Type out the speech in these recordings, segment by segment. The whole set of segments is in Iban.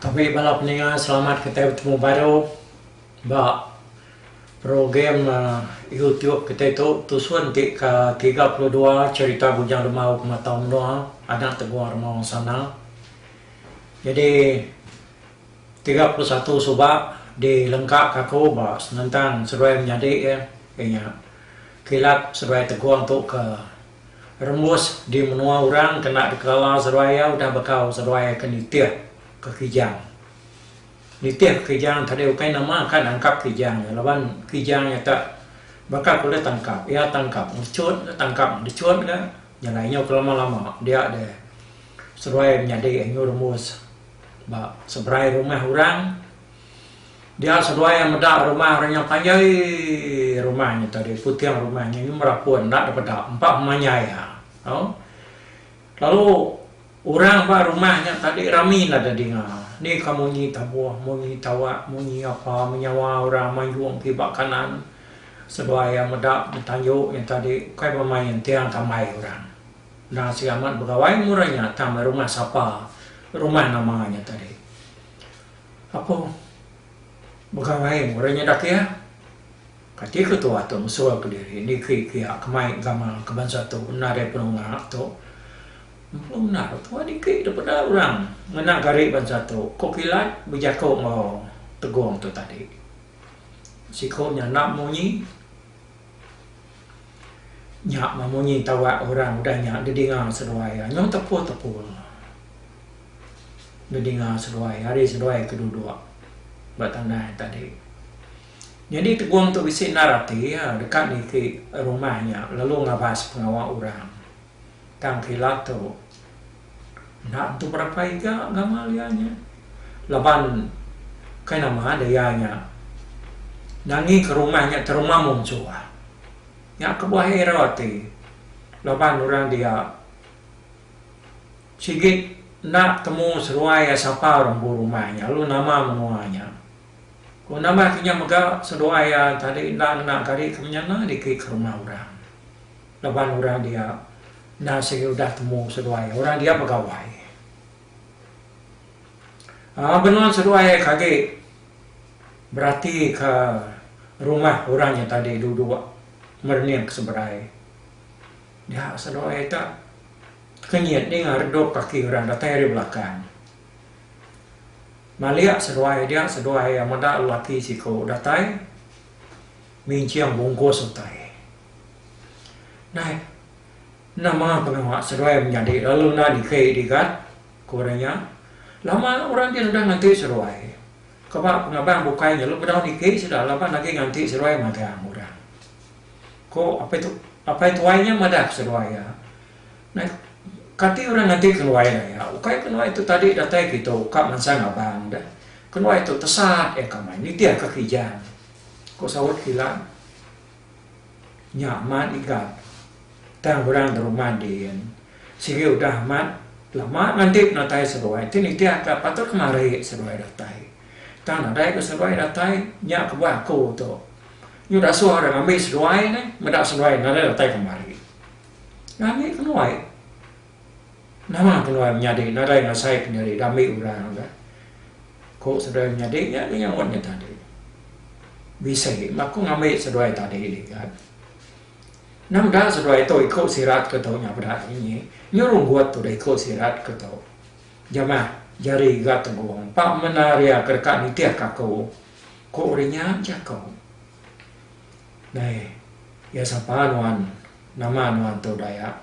Tapi bala peninga selamat kitai betemu baru ba program uhh YouTube kitai tu tusun ti ke tiga puluh dua cerita bujang demau ke matau menua anak teguang rema wang sana. Nyadi tiga puluh satu suba di lengka ka aku ba senentang seduai menyadi iya nya kilat seduai tegong tu ke rembus di menua orang kena dikelala seduai iya udah bekau seduai ke nitih ke Kijang. Nitih ke Kijang tadi ukai nama ka nangkap Kijang nya laban Kijang nya tu baka ku leh tangkap iya tangkap ngecut tangkap ngecut ka. Nyana inyau ke lama lama dia deh seruai menyadi anyu rumus ba seberai rumah orang dia seruai meda rumah orang nyau panjai rumah nyu tadi puting rumah nyu nyu merapun enda dipeda empa memanjai ha tau lalu Orang ba rumah nya tadi rami la da dinga, ni ka munyi tabuh, munyi tawak, munyi apa menyawa orang manjung ti ba kanan seduai iya meda betanju nya tadi ukai ba mai entiang tambai orang. Endang sigi amat begawai murah nya tang meh rumah sapa, rumah nama nya tadi. Apo begawai murah nya dak iya? Kati ketua tu mesul kediri niki kia kemai gamal ke bansa tu nadai penunga tu. Empu enda ko tua dikit dah peda orang ngena gari bansa tu, ko kilat bejako enggau Tegong tu tadi. Siko nya enda munyi. Nya mah munyi tawak orang udah nya didinga seduai iya. Nyau tepu-tepu didinga seduai iya ari seduai ke duduk ba tandas tadi. Nyadi Tegong tu bisi endar ati iya deka niki rumah nya lalu ngabas pengawa orang. Tang kila tu enda tentu berapa iga ngamal iya nya laban kai nama deh iya nya nangi ke rumah nya teruma mung suah. Nya kebuah error ati laban orang dia sigi enda temu seruai iya sapa orang empu rumah nya lalu nama menua nya. Ku nama kinya mega seduai iya tadi enda ngena kari ke menyana dikit ke rumah orang. Laban orang dia enda sigi udah temu seduai orang dia begawai. Aa benung seduai ke agi berati ke rumah orang nya tadi duduk merening ke seberai. Nya seduai te tekenyit ninga redup kaki orang datai ari belakang. Malik seduai dia seduai meda lelaki siko datai. Minching bungkus utai. Dai. Nama pengawa seruai menyadi lalu enda diki digat? ku orang nya. Lama orang ti sudah nganti seruai. Kaba pengabang bukai nya lu bedau niki sida laban agi nganti seruai magang orang. Ku apai tu apai tuai nya madah ke seruai iya. Dai. Kati orang nganti kenuai dai iya. Ukai kenuai tu tadi datai kitu ka mansang abang deh. Kenuai tu tesat iya kamai nitihka kijang. Ko Saut Kilang nya amat igat tang orang da rumah din sigi udah amat lama nganti penatai seruai ti nitih ka patut ke mari seruai datai. Tang nadai ke seruai datai nya kebuah aku tu nyu da suah orang ngambi seruai ne meda seruai nadai datai ke mari. Ngani ke nuai. Nama peluang nyadi nadai ngasai pendiri diambi orang ga? Ku seduai menyadi nya agi nyaut nya tadi. Bisi meh aku ngambi seduai tadi ligat. Endang udah seduai tu iku sirat ke tu nya peda sunyi. Nyu runggut udah iku sirat ke tu. Jamah jari ga tegong pa menari ke deka nitihka aku. Ku uri nya jaku. Dai, iya sapa nuan? Nama nuan tu Dayak?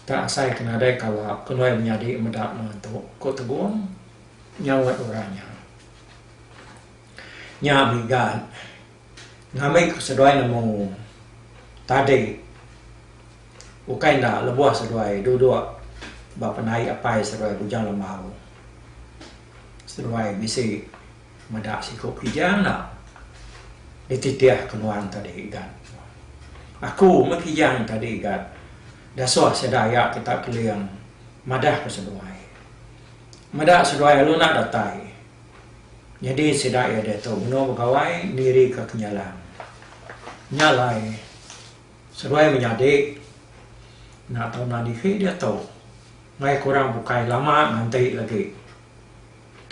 Tang asai ke nadai kala kenuai menyadi meda menua tu, ku Tegong nyaut orang nya. Nya bigat ngambi ku seduai nemu tadi ukai enda lebuh seduai duduk ba penai apai seduai Bujang Lembau. Seduai bisi. Meda siku Kijang enda dititih ke nuan tadi gat. Aku meh Kijang tadi gat. Dasuh sida iya ti tak keling madah ke seduai. Meda seduai lalu enda datai. Nyadi sida iya diatu benung begawai niri ke kenyalang. Nya alai seduai menyadi enda tau nan isi diatu. Maya kurang bukai lama nganti lagi.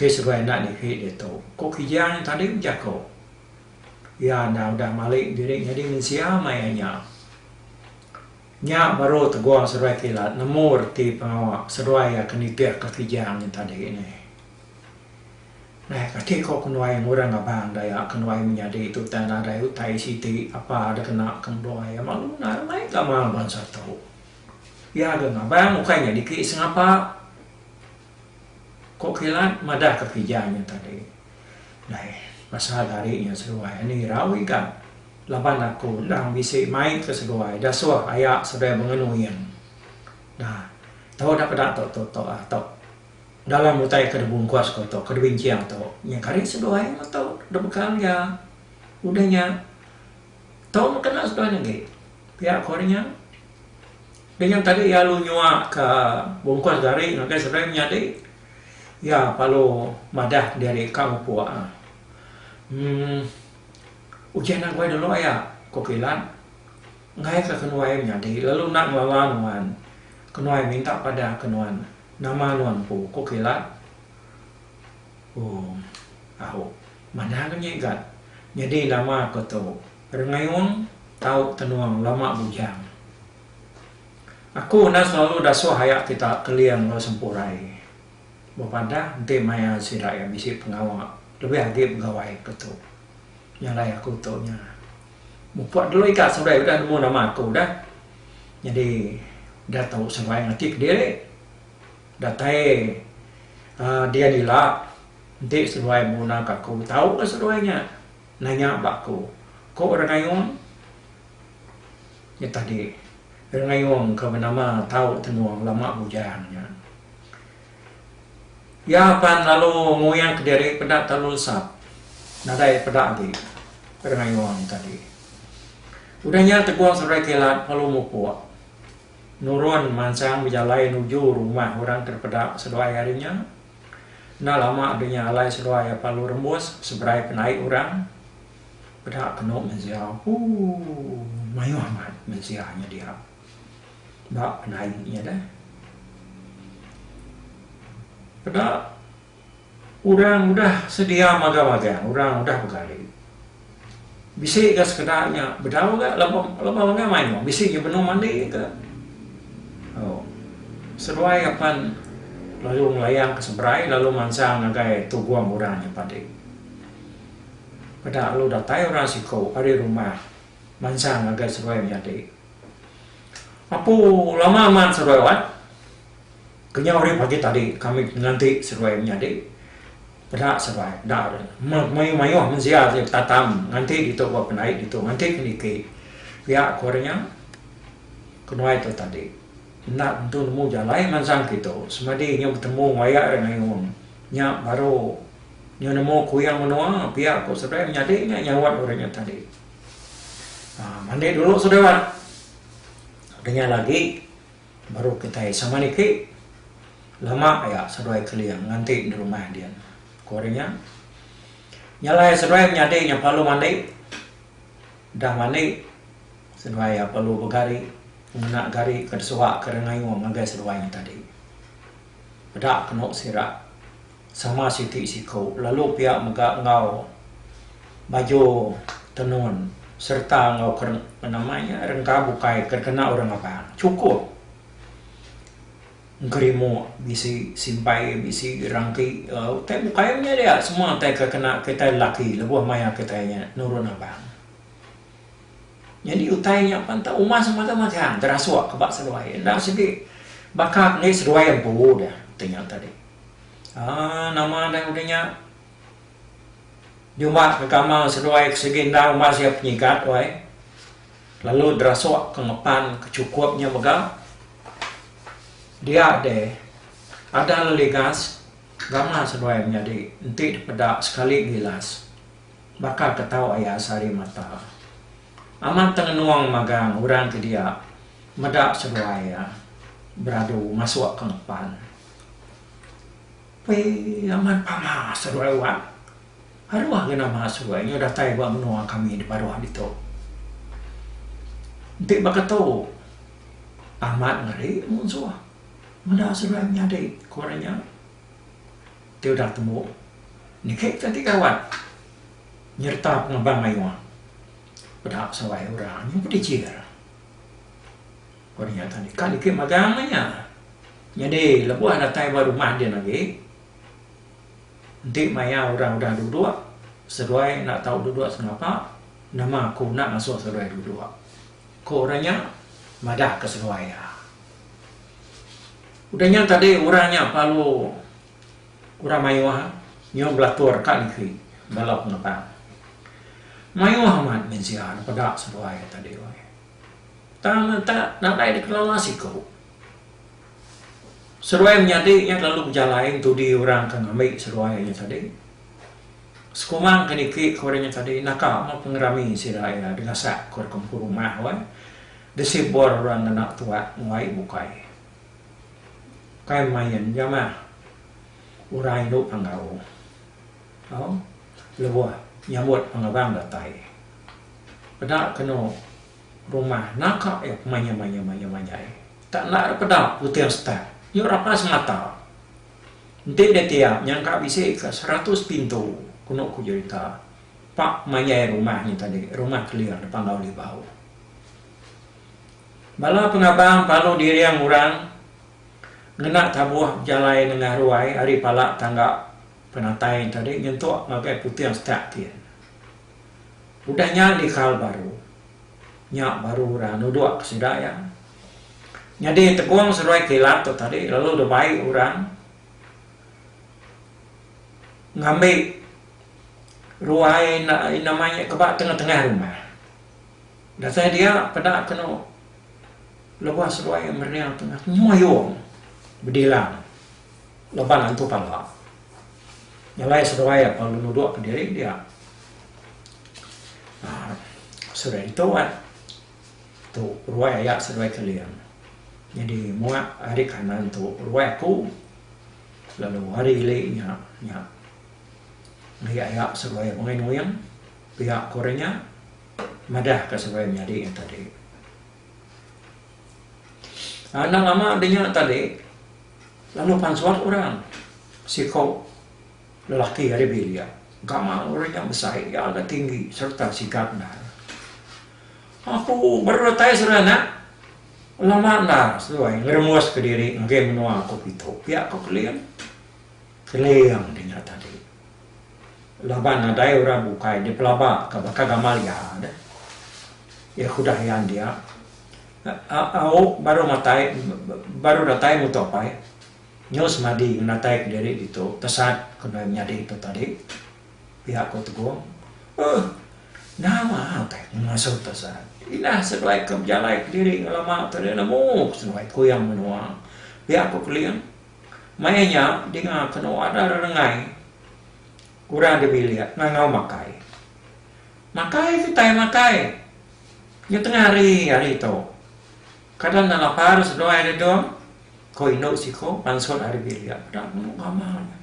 Ti sebai enda niki ditu. Ku Kijang nya tadi bejaku, iya enda udah malik diri nyadi mensia maya nya. Nya baru teguh seruai kilat nemu reti pengawa seruai iya ke nitihka Kijang nya tadi neh. Neh kati ko kenuai ngurang abang daya kenuai menyadi tutai nadai utai siti apa da kena ke endur iya malu nadai mai gamal bansa tu. Iya ga ngabang ukai nya diki sengapa. Ko Kilat madah ka pija nya tadi. Dai pasal ari nya seduai ani irau iga laban aku endang bisi mai ka seduai da soh aya seduai bengenu yen. Nah tau da peda tok tok tok ah tok dalam utai ka dibungkus ko tok ka dibincing tok nya kari seduai meh tok da bekal iya. Udah nya tok meh kena seduai agi pia ko nya. Dengan tadi iya lalu nyuaka bungkus gari ngagai seberai menyadi, iya lalu madah diri ka upuk. Emm. Ujan aguai dulu aya, ku Kilan. Ngaika kenuai menyadi lalu enda ngelala nuan. Kenuai minta padah ke nuan. Nama nuan empu? ku Kilan. Ooh. Au. Manah ke nya igat. Nyadi nama aku tu. Rengayung tau tenuang lama bujang. Aku enda selalu dasuh aya ti tak kelia enggau sempurai. Bepadah enti maya sida iya bisi pengawa lebih agi begawai ke tu. Nyalai aku tu nya. Mupuk dulu ika seduai udah nemu nama aku dah. Nyadi dah tau seduai ngati kediri. Datai uhh dian ila enti seduai benguna ka aku tau ka seduai nya. Nanya ba aku, ko Rengayong. Nya tadi, Rengayong ke benama tau tenung lama bujang nya. Iya pan lalu ngoyang ke diri peda talu lesap. Nadai peda agi Rengayong tadi. Udah nya Tegong Seruai Kilat lalu mupuk nurun mansang bejalai nuju rumah orang ke dipeda seduai ari nya. Enda lama dunya alai seduai apalu rembus seberai penai orang peda kenu mensia ooh mayuh amat mensia nyedia ba penai nya deh peda orang udah sedia magang-magang orang udah begari. Bisi ga sekeda nya bedau ga laba laba mega mayuh bisi ga benung mandi ga au seduai apan lalu ngelayang ke seberai lalu mansang ngagai tugong orang nya padi. Peda lalu datai orang siku ari rumah mansang ngagai seduai menyadi. Apu lama amat seduai wat. Kenyau rip agi tadi kami nganti seruai menyadi peda seruai enda meh mayuh mensia ti betatam nganti ditu ba pendai ditu nganti ke niki pia ku ari nya kenuai tu tadi enda tentu nemu jalai mansang kitu semadi inya betemu wayah ira ngayun nya baru inya nemu kuyang menua pia ku seruai menyadi nya nyaut uri nya tadi mani dulu sida udah nya lagi. Baru kitai sama niki. Lama aya seduai Keling nganti di rumah din, ku ari nya. Nya alai seduai menyadi nya perlu mandi. Udah mandi, seduai iya perlu begari ngena gari ke disuaka dengayung ngagai seduai nya tadi. Peda kenu sira. Sama siti siku lalu pia mega enggau baju tenun sereta enggau ke nama nya rengka bukai ke dikena orang Abang. Chukup engkerimu bisi simpai bisi rangki utai bukai nya dia semua utai ke kena kitai lelaki lebuh maya kitai nya nurun Abang. Nyadi utai nya pan tau uma semata magang terasuk ke ba seduai enda sigi baka enggai seduai empu dah ti nya tadi. Aaa nama deh udah nya. Nyuma ke kamar seduai ke sigi enda umbas iya penyigat wai. Lalu derasuk ke ngepan ke chukup nya mega. Dia deh adah leligas gamar seduai menyadi enti dipeda sekali ngilas baka ke tau aya sehari mata. Amat tengenung magang orang ke dia meda seduai iya beradu masuk ke ngepan. Pei amat pama seruai wang. Aruh agi nama seruai nya datai ba menua kami di paruh ditu. Enti baka tu amat ngeri munsuh meda seruai menyadi ku orang nya. Ti udah tembu niki kita ti gawan nyereta pengebang mayuh peda seruai orang nya pun dichir. Ku orang nya tadi ka niki magang nya. Nyadi lebuh datai ba rumah din agi, enti maya orang udah duduk, seduai enda tau duduk sengapa, nama aku enda ngasuh seduai duduk, ku orang nya madahka seduai iya. Udah nya tadi orang nya lalu orang mayuh nyuh belatur ka liki bala pengetang. Mayuh amat mensia nepeda seduai iya tadi. Tang enta nadai dikelala siku. Seruai menyadi iya lalu bejalai entudi orang ke ngambi seruai inya tadi. Sekumang ke niki ku orang inya tadi naka meh pengerami sida iya digasak ku orang ke empu rumah weh disibor orang ngena tuak ngelai bukai. Kai main jamah orang indu panggau tau lebuh nyambut pengabang datai. Peda kenu. Rumah naka ep maya maya maya majai. Tak enda ra peda puting setat. Nyu rapa semata. Enti deh tiap nyangka bisi ka seratus pintu kunu ku jerita. Pak majai rumah nyi tadi rumah keling depan Lau Libau. Bala pengabang palu diring orang ngena tabuh bejalai nengah ruai ari pala tangga penatai tadi nyentuk ngagai puting setak tin. Udah nya di kal baru. Nya baru ira nuduk ke sida iya. Nyadi tepung seruai kilat tu tadi lalu deh bai orang ngambi ruai enda ai nama nya ke ba tengah-tengah rumah. Dasai dia peda kenu lebuh seruai mereang tu nyoyong bedilang laban antu pala. Nyelai seduai apan lu nudukka diri dia. Aa seduai ditu ai. Tu ruai aya seduai Keling. Nyadi mua ari kanan tu ruai aku lalu ari ili nya nya meri aya seduai Nuing Nuing pia ku orang nya madahka seduai menyadi nya tadi. Anang ama dinya tadi lalu pan suat orang siko lelaki ari bilik gamal orang nya besai iya ga tinggi serta sigap ndai aku beretai seranak lama enda seduai ngeremus kediri ngagai menua aku pitu pia ko Kelin Keling dinya tadi. Laban nadai orang bukai dipelaba ka baka Gamalia deh. Yehudah yan dia. Au baru matai baru datai muto pai. Nyu semadi ngenatai ke diri ditu tesat ke enda nyadi tu tadi. Pia ko Tegong. Uhh nama utai ku ngasuh tesat. Indah seduai ke bejalai ke diri ngelama tu deh nemu seduai kuyang menua. Pia ko Keling. Maya nya dinga kenu ada rerengai orang di bilik ngangau makai. Makai kitai makai. Nya tengah hari hari tu. Kada enda lapar seduai Redong, ko indu siko mansut ari bilik peda nemu bama nya.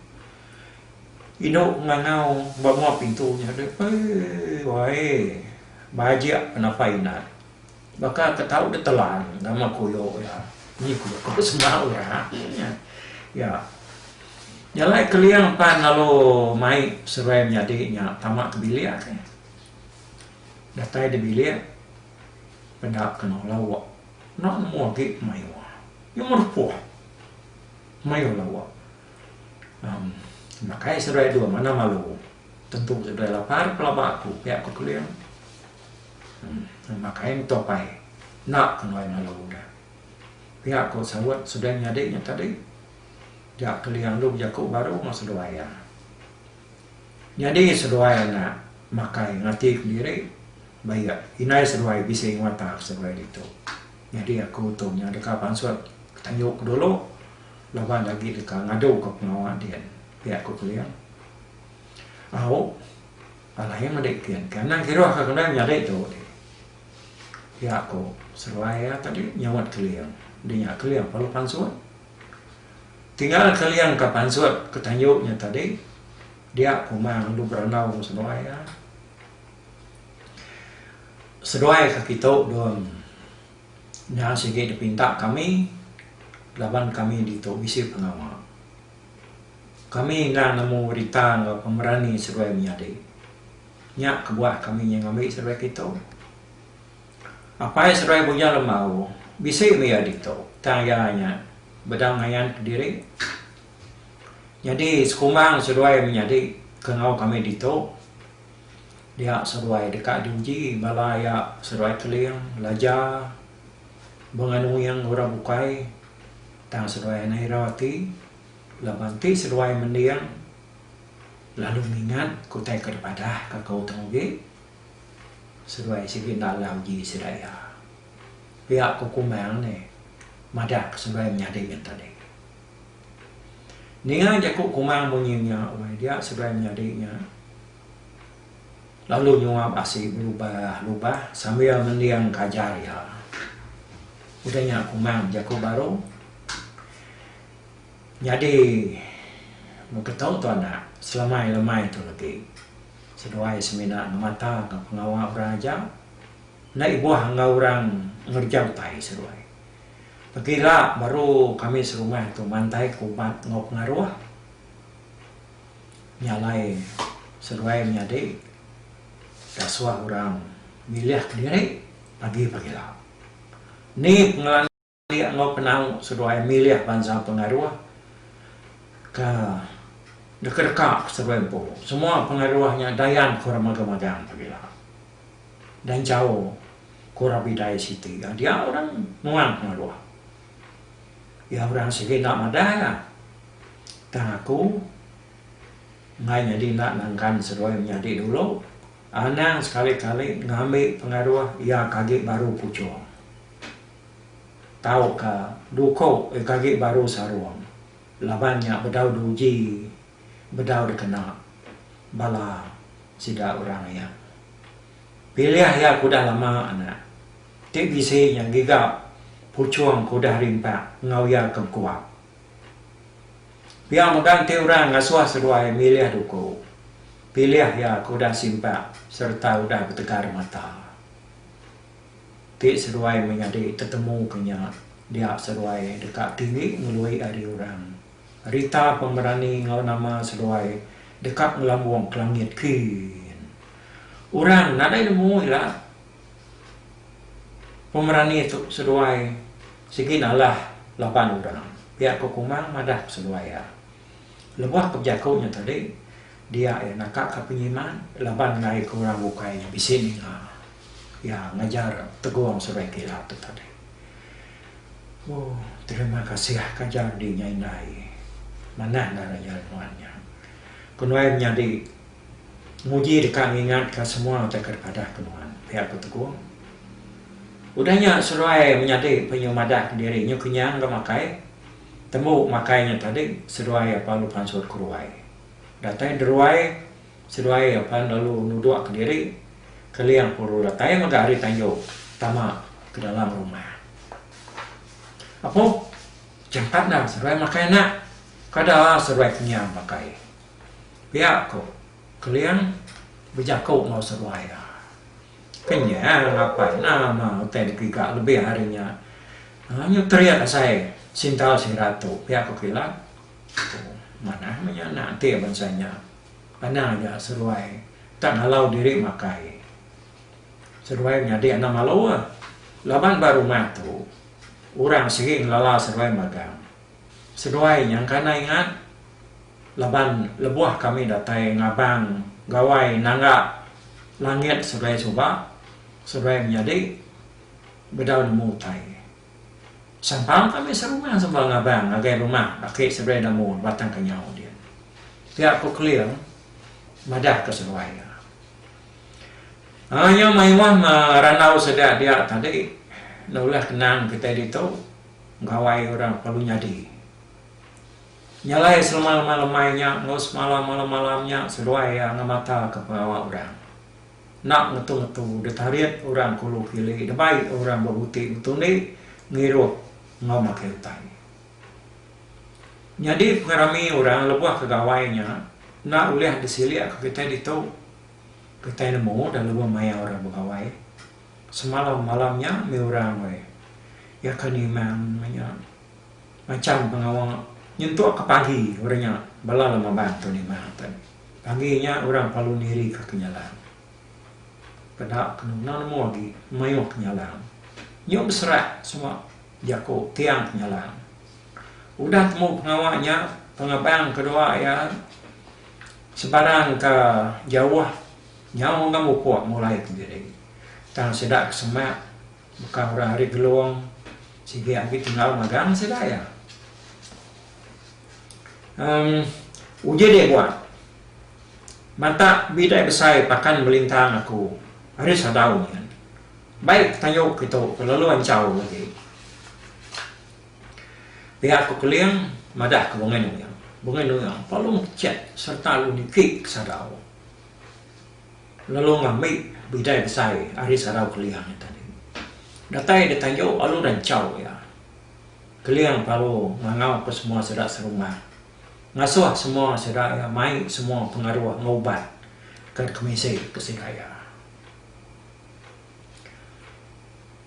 Indu ngangau ba menua pintu nya deh. Eii wai bajik penapa inat. Baka ke tau ditelan nama kuyo iya, ni kuyo ke besemau iya nya. Iya jalai keling pan lalu mai seruai menyadi nya tama ke bilik ke. Datai di bilik peda keno lawa enda nemu agi pemayo. Iya merupuh mayo lawa em makai seruai dua mana malu tentu seruai lapar pelaba aku pia ku keling. Terima kai meto pai enda ke nuai ngalo udah. Pia ko saut seduai menyadi nya tadi ja kelia ngeluh jaku baru enggau seduai iya. Nyadi seduai anak makai ngati kendiri ba iya indai seduai bisi nguata ke seduai ditu. Nyadi aku tu nya deka pansut tanyu ke dulu laban agi deka ngadu ke pengawa din pia ko Kelia. Au. Alah iya meda ipin ke endang kiruh ke kendai menyadi tu dih. Pia ku seruai iya tadi nyauat Keling. Dih nya Keling parlu pansut. Tinggal Keling ka pansut ke tanju nya tadi dia kuma ngendu berandau enggau seduai iya. Seduai ka kitu dun nya sigi dipinta kami laban kami ditu bisi pengawa. Kami endang nemu berita enggau pemerani seduai menyadi. Nya kebuah kami nyai ngambi seduai kitu. Apai seduai Bujang Lembau bisi mih iya ditu tang iya nya bedau ngayan kediri. Nyadi sekumbang seduai menyadi ke enggau kami ditu dia seduai deka diuji bala iya seduai Keling, Laja, Benganuing, Orang Bukai tang seduai Naira ti. Laban ti seduai mending lalu ngingat ke utai ke dipadah ka aku tu agi, seduai sigi enda enggau uji sida iya. Pia ku Kumang ni madah ke seduai menyadi ngan tadi. Ninga jaku Kumang munyi nya wai dia seduai menyadi nya lalu nyuap asi belubah lubah sambil mending ke ajar iya. Udah nya Kumang bejaku baru, Nyadi mega tau tu anak selamai lemai tu legi seduai semina ngemataka pengawa orang aja enda ibuh enggau orang ngereja utai seduai. Legi ila baru kami serumah tu mantaika ubat enggau pengaruh nya alai seduai menyadi dasuh orang milihka diri pagi pagila. Ni pengelandik. Nya enggau penau seduai milih bansa pengaruh ke deka-deka ke seduai empu. Semua pengaruh nya dayan ke orang magang-magang pagila. Dan jauh ke orang bidai siti iya dia orang nuan pengaruh. Iya orang sigi enda madah iya. Tang aku enggai nyadi enda nangkan seduai menyadi dulu. Anang sekali-kali ngambi pengaruh iya ke agi baru puchung. tauka duko eg agi baru sarung laban nya bedau duji bedau dikena bala sida orang iya. Pilih iya ke udah lama anak ti bisi nya giga puchung ke udah rimpak enggau iya ke bekuap. Pia mega enti orang ngasuh seduai milih duko, pilih iya ke udah simpak sereta udah betegar mata. Ti seduai menyadi tetemu ke nya dia seduai deka tinggi ngelui ari orang. Rita Pemberani enggau nama seduai deka ngelambung ke langit kin. Orang nadai nemu ila Pemberani tu seduai sigi nalah laban orang. Pia ko Kumang madah ke seduai iya. Lebuh ke bejaku nya tadi dia iya naka ka penyiman laban ngai ke orang bukai nya bisi ninga. Iya ngajar tegong sebai kila tu tadi. Ooh terima kasih ka ajar di nya indai. Manah ngagai ajar nuan nya. Ku nuan nyadi nguji deka ngingat ka semua utai ke dipadah ke nuan. Pia ku tegong. Udah nya seduai menyadi penyu madah ke diri nyu kenyang ga makai. Tembu makai nya tadi seduai apalu pansut ke ruai. Datai deruai. Seduai pan lalu nuduk ke diri Keling puru datai mega hari tayu tama ke dalam rumah. Apo jampat enda seduai makai anak. Kada seduai kenyang makai. Pia ko Keling bejako enggau seduai iya. Kenyang apai enda ma utai dipiga lebih ari nya. Nyu terit asai sintal sida tu pia ko Kilan. Manah meh nya anak enti bangsa nya. Pandang aja seruai tak ngalau diri makai. Seruai nyadi anak malu ah. Laban ba rumah tu orang sigi ngelala seruai magang. Seruai nyangka enda ingat laban lebuh kami datai ngabang gawai nangga langit seruai suba, seruai menyadi bedau nemu utai. Sempang kami serumah semua ngabang ngagai rumah Aki Seberai Damu Batang Kenyau dia. Pia Ku Keling madah ke seduai iya. Aye mayuh me randau sida dia tadi nulah kenang kitai ditu gawai orang perlu nyadi. Nyelai selema lemai lemai nya enggau semala malam malam nya seduai iya ngemata ke pengawa orang. Enda ngetu-ngetu ditarit orang kulu kili debai orang bebuti betundi ngiruh enggau makai utai. Nyadi pengerami orang lebuh ke gawai nya enda ulih disilikka kitai ditu. Kitai nemu dah lebuh maya orang begawai semalam malam nya mih orang weh. Iya ke niman meh nya macam pengawa nyentukka pagi orang nya bala lemaban tu niman atai. Agi nya orang palu niri ka kenyalang. Peda kenuna nemu agi mayuh kenyalang. Nyu beserak semua jaku tiang kenyalang. Udah temu pengawa nya pengabang kedua iya sebarang ka jauh nyau enggau mupuk mulai ke nyadi tang sida ke semak. Baka orang ari Gelong sigi agi tinggal magang sida iya. Em uji deh buat. Mata bidai besai pakan belintang aku ari sadau nyin. Baik tayo kitu ke lalu anchau agi. Pia ku Keling madah ke Bengai Nuyang. Bengai Nuyang palu mechat serta lu niki ke sadau. Lalu ngambi bidai besai ari sarau Keliang nya tadi. Datai ditanju alu ranchau iya, Keliang Palo ngangauka semua sida serumah, ngasuh semua sida iya mai semua pengaruh ngubat kad kemisi ke sida iya.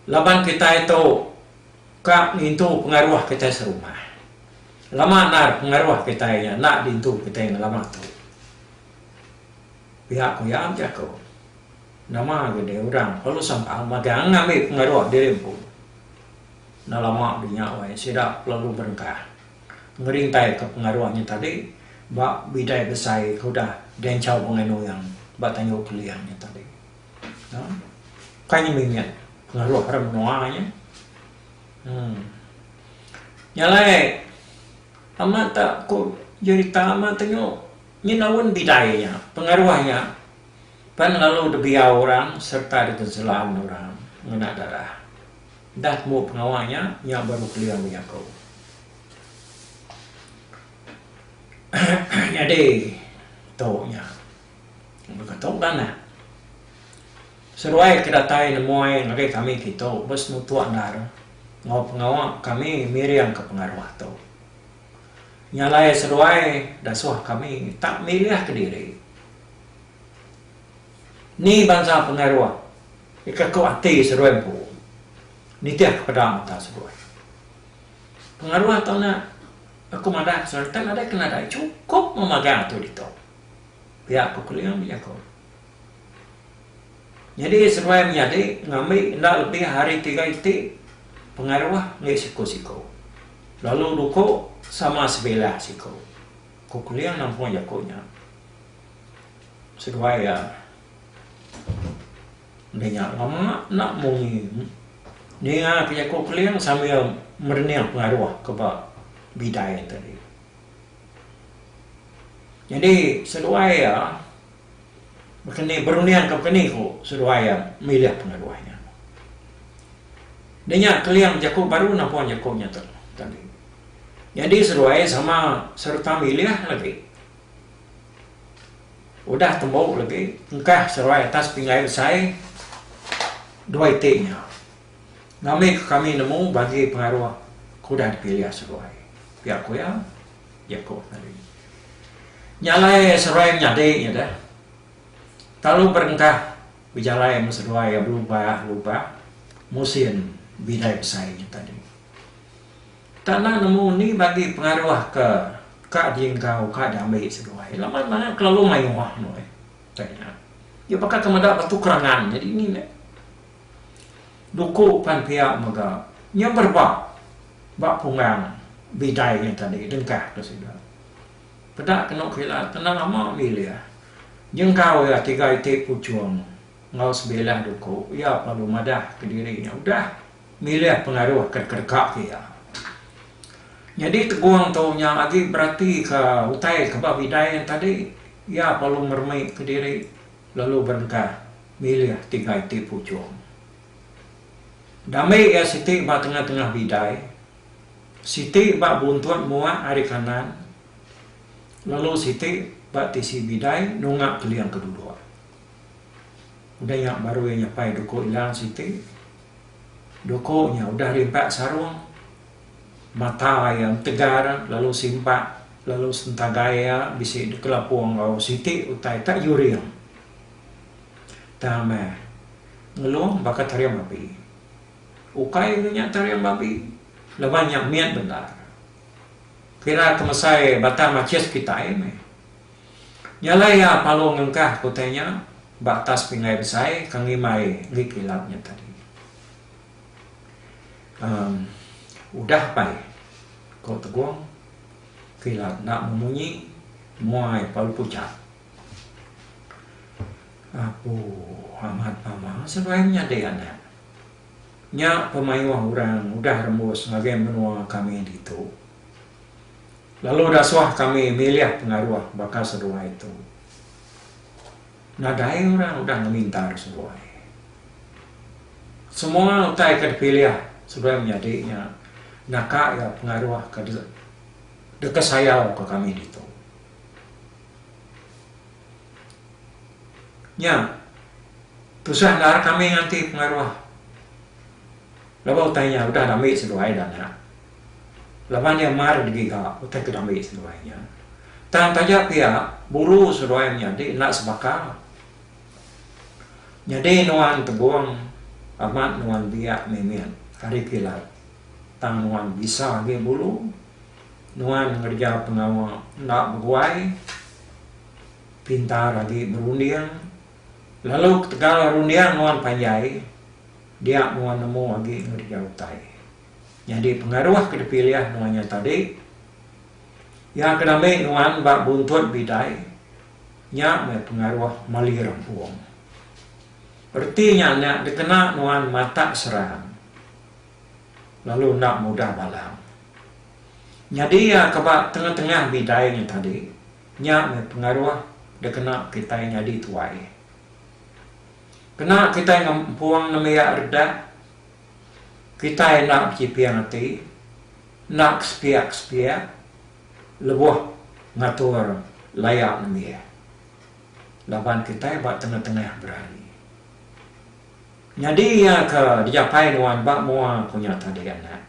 Laban kitai tu ka ngintu pengaruh kitai serumah. Lama endar pengaruh kitai nya enda diintu kitai ngelama tu. Pia ku iya bejaku, nama agi deh orang perlu sambal magang ngambi pengaruh diri empu. Enda lama di nya wai sida kelalu berengkah ngerintaika pengaruh nya tadi ba bidai besai ke udah dianchau Bengai Nuyang ba Tanjung Keling nya tadi. Nah, ukai nya mimit pengaruh orang menua nya. Um. Nya alai amat tak ku jerita amat tanyu. Nyenaun bidai nya, pengaruh nya pan lalu dibiau orang sereta diteselan orang ngena darah. Dah temu pengawa nya, nya baru keling bejaku. Nyadi, tu nya baka tu dah nah. Seruai ke datai nemuai ngagai kami kitu ba senutuk endar enggau pengawa kami miringka pengaruh tu. Nya alai seduai dasuh kami tak milih kediri. Ni bansa pengaruh ti kaku ati seduai empu nitih ke peda mata seduai. Pengaruh tu nya aku madah ke seduai enti nadai ke nadai chukup memagang tu ditu. Pia ku Keling, ku Jaku. Nyadi seduai menyadi ngambi enda lebih ari tiga iti pengaruh enggih siku-siku, lalu duku sama sebilah siku, ku Kuling nampung jaku nya seduai iya enda nya lama enda munyi ninga ke jaku Kuling sambil merening pengaruh ke ba bidai tadi. Nyadi seduai iya. Baka ni berunding ke baka ni ku seduai iya milih pengaduh nya. Dinya keling jaku baru nampung jaku nya tu tadi. Nyadi seduai sama sereta milih lagi. Udah tembu lagi engkah seduai atas pinggai besai dua iti nya. Ngambika kami nemu bagi pengaruh ke udah dipilih seduai, pia ku iya. Yakub tadi. Nya alai seruai nyadi nya deh. Talu berengkah bejalai meh seduai iya belubah lubah musin bidai besai nya tadi. Tana nemu ni bagi pengaruh ke ka dienggau ka diambi seduai. Laban mana kelalu mayuh nuh eh. Iya baka ke meda batu kerangan nyadi ni meh. Buku pan pia mega nya berebak ba punggang bidai nya tadi dengkah ke sida. Peda kenu kila tenang ama milih nyenggau iya tiga iti puchung enggau sebilah duku iya perlu madah ke diri nya udah milih pengaruh ke deka ke iya. Nyadi tegung tu nya agi beratika utai ke ba bidai nya tadi iya perlu meremik ke diri Lalu berengkah milih tigai ti puchung. Dambi iya siti ba tengah-tengah bidai, siti ba buntut mua ari kanan lalu siti ba tisi bidai nunga keling ke duduk. Udah nya baru iya nyapai duku Ilang siti. Duku nya udah rimpat sarung Mata iya entegar lalu simpak lalu sentagai iya bisi dikelapung enggau siti utai ka yuring. Tang meh, Ngelong baka taring babi. Ukai ke nya taring babi laban nya mit bendar. Kira ke mesai batang machis kitai meh. Nya alai iya palu ngengkah ke utai nya ba atas pinggai besai ke ngimbai enggi kilap nya tadi. Um udah pai ko tegong kila enda memunyi mua ia pa lepu cha. Apu amat mama seduai menyadi anak. Nya pemayuh orang udah rembus ngagai menua kami ditu. Lalu daswah kami milih pengaruh baka seduai tu. Nadai orang udah ngeminta seruai. Semua utai ke dipilih seduai menyadi nya naka iya pengaruh ke deka sayau ke kami ditu. Nya tusah endar kami nganti pengaruh laban utai nya udah diambi seduai dana. Laban iya mar ngegiga utai ke diambi seduai iya. Tang taja pia, buru seduai menyadi enda sebaka. Nyadi nuan tebung amat nuan biak mimit hari kilat tang nuan bisa agi bulu, nuan ngereja pengawa enda beguai, pintar agi berunding lalu ketegal runding nuan panjai dia nuan nemu agi ngereja utai. Nyadi pengaruh ke dipilih nuan nya tadi, iya ke nambik nuan ba buntut bidai, nya meh pengaruh mali rempung. Reti nya enda dikena nuan matak serang lalu enda mudah balang. Nyadi iya ke ba tengah-tengah bidai nya tadi, nya meh pengaruh dikena kitai nyadi tuai. Kena kitai ngempung nembiak redah, Kitai enda bechiping ati, enda kesepiak-kesepiak lebuh ngatur laya nembiak laban kitai ba tengah-tengah berari. Nyadi iya ke dijapai nuan ba mua aku nya tadi anak,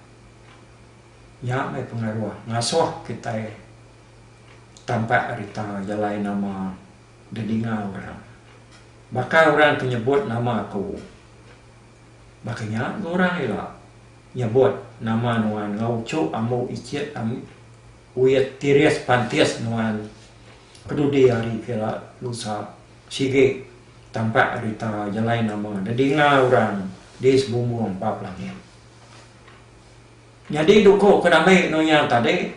nya meh pengaruh ngasuh kitai tampak rita jalai nama didinga orang. Baka orang ke nyebut nama aku. Baka nya ngurang ila nyebut nama nuan enggau uchu ambu ichit wit tiris pantis nuan kedudi hari ke ila lusa sigi tampak rita jalai nama didinga urang di sebumbung ba pelangit. Nyadi duku ke dami anu nya tadi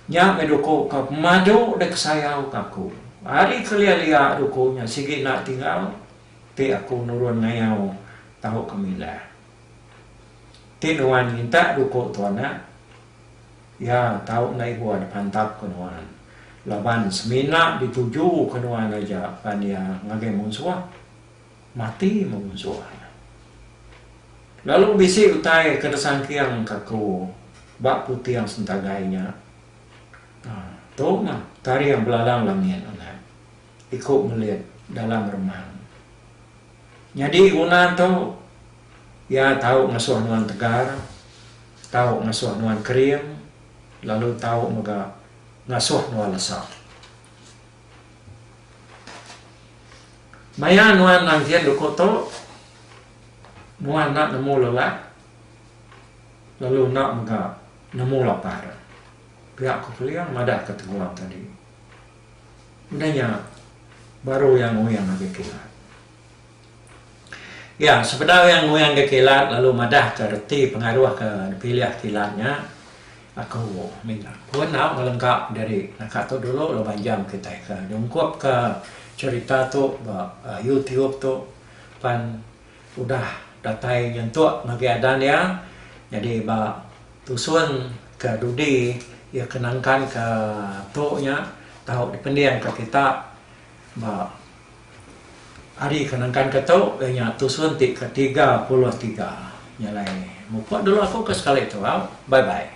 nya meh duku ke pemadu dek sayau ka aku. Ari kelia-lia duku nya sigi enda tinggal. Ti aku nurun ngayau tau ke mila. Ti nuan minta duku tua nak. Ya tau enda ibuh di pantap ke nuan. Laban semina di tuju ke nuan aja pan iya ngagai munsuh. Mati meh munsuh iya. Lalu bisi utai ke disangking ke aku ba puting sentagai nya. Nah tu meh taring belalang langit anak. Iku melit dalam remang. Nyadi guna tu, iya tau ngesuh nuan tegar, tau ngesuh nuan kering lalu tau mega ngasuh nuan lesa. Maya nuan nangkin duku tu, nuan enda nemu lelak lalu enda mega nemu lapar, pia ku Keling madahka teguang tadi. Udah nya baru iya nguyang ngagai kilat. Iya, sebedau iya nguyang ngagai kilat lalu madahka reti pengaruh ke dipilih kilat nya, Aku minta ku enggau ngelengka diri naka tu dulu laban jam kitai ke nyungkupka cherita tu ba YouTube tu pan Udah datai nyentuk ngagai adan iya nyadi ba tusun ke dudi iya ke nangkan ke tu nya tau dipending ke kita ba hari ke nangkan ke tu iya nya tusun ti ke tiga puluh tiga nya alai mupuk dulu aku ke sekali tu au bye bye.